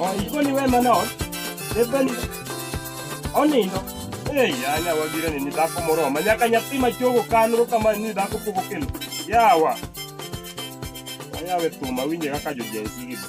Oh, iko ni wewe manao. Depeni. Onindo. Eh, yana wagira ni nidako moro. Manyaka nyathi machogo kanro kama ni dhako pogo kelo. Yawa. Ayawe tuma winje kaka jo Gen Z gido.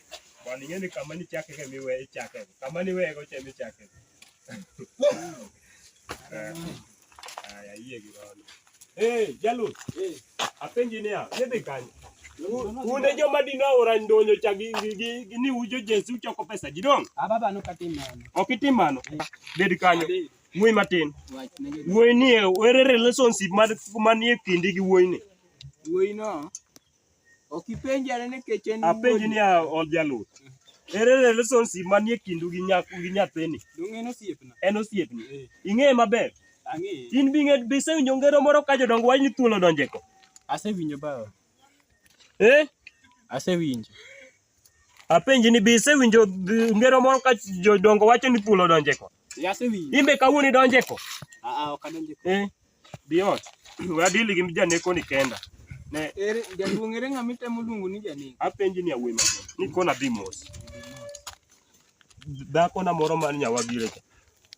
Bwana ingeni kama ni chake kemi we chake. Kama ni we go chemi chake. Eh. Aya yie girono. Eh, jalu. Eh. Apenji niya, yedhi kanyo. Unde joma dino ora ndonyo cha gi gi ni ujo Jesu choko pesa ji dong. Ah baba no katimano. Ok itimano. Eh. Bed kanyo. Ng'we matin. Wuoyi ni ere relationship man manie kindi gi wuoyi ni. Wuoyi no Ok ipenja ne nikech en Apenji ni ol jaluot. Ere relationship manie kindu gi nyaku gi nyathini? Donge en osiepna? En osiepni. Eh. Ing'eye maber? Ang'eye. In bi ng'e bi sewinjo ngero moro ka jodongo wach ni thuol odonje ko. Asewinjo bawa. Eh? Asewinjo. Apenji ni bi sewinjo ngero moro ka jodongo wacho ni thuol odonje ko. Asewinjo. Imbe kawuono idonje ko? Aa ah, ah, ok adonje ko. Eh? Bi ot. We adili gi janeko ni kenda. Ne ere jaduong' ere ng'ama itemo luongo ni janeko? Apenji ni awema. Ni kona dhi mos. Dhako na moro man nyawagire cha.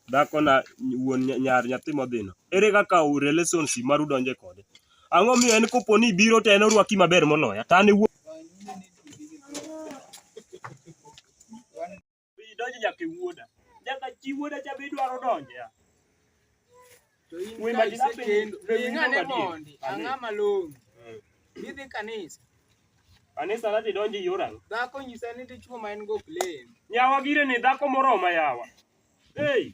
Dhako na wuon nyar nyathi modhino. Ere kaka u relations maru donje kode? Ang'o miyo en kopo ni biro to en orwaki maber moloya? Tane wuon Idonjo nyaka e wuoda. Nyaka chi wuoda cha be idwaro donje. ah. To in Wema ka jina isekendo, penjo- penjo ing'ane adier. mondi, ang'a malong'o, idhi kanisa. Kanisa nadhi donjo e yor ang'o? Dhako nyisa ni dichwo ma en go ok lem. Nyawa gire ni dhako moroma yawa. Hey,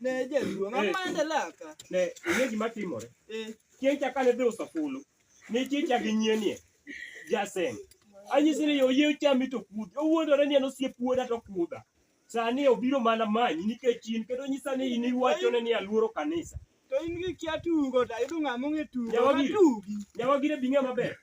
Ne jaduong', Eh. amande laka. Ne, ing'e gima timore. Eh, Chieng' cha kane dhi uso fulu, ne chieng' cha gi nyienie, jasem. Anyisi ni oyie ochami to kudhi. Owuondore ni en osiep wuoda to kudha. Sani obiro mana manyi nikech in kendo nyisa ni in iwachone ni aluoro kanisa. to in gi kia tugo, to ayudo ng'ama ong'e tugo, Jawa biro. matugi. Nyawagire bing'e maber.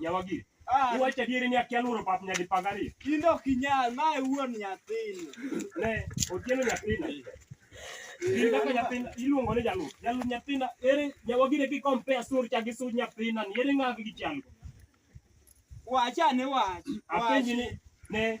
Nyawagiri. Ah, Iwacho adieri ni akia lworo pap nyadi pag ariyo. in ok inyal, mae wuon nyathini. Ne, otieno nyathina. In kaka nyathina iluongo ni jalup. Jalup nyathina ere nyawagiri ki compare sur cha gi sur nyathina ni ere ng'agi gi chalgo. Wacha ne wach. Apenji ni ne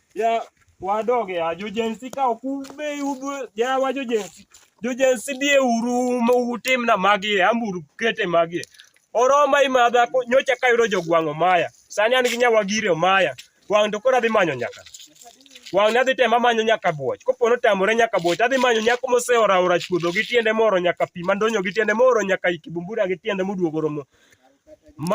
Ya wadoge ya jojensi ka ok ube udhu ya wa jojensi. Jojensi bie uru ma utim na magi amburu kete magi. Oroma imadha ko- nyocha ka yudo jogwang'o maya. Sani an gi nyawa gire omaya. Wang' to koro adhi manyo nyaka. Wang' ne adhi tema manyo nyaka buoch. Kopo notamore nyaka buoch, adhi manyo nyako moseora ora chuodho gi tiende moro nyaka pi mandonyo gi tiende moro nyaka ikibumbura gi tiende moduogo romo.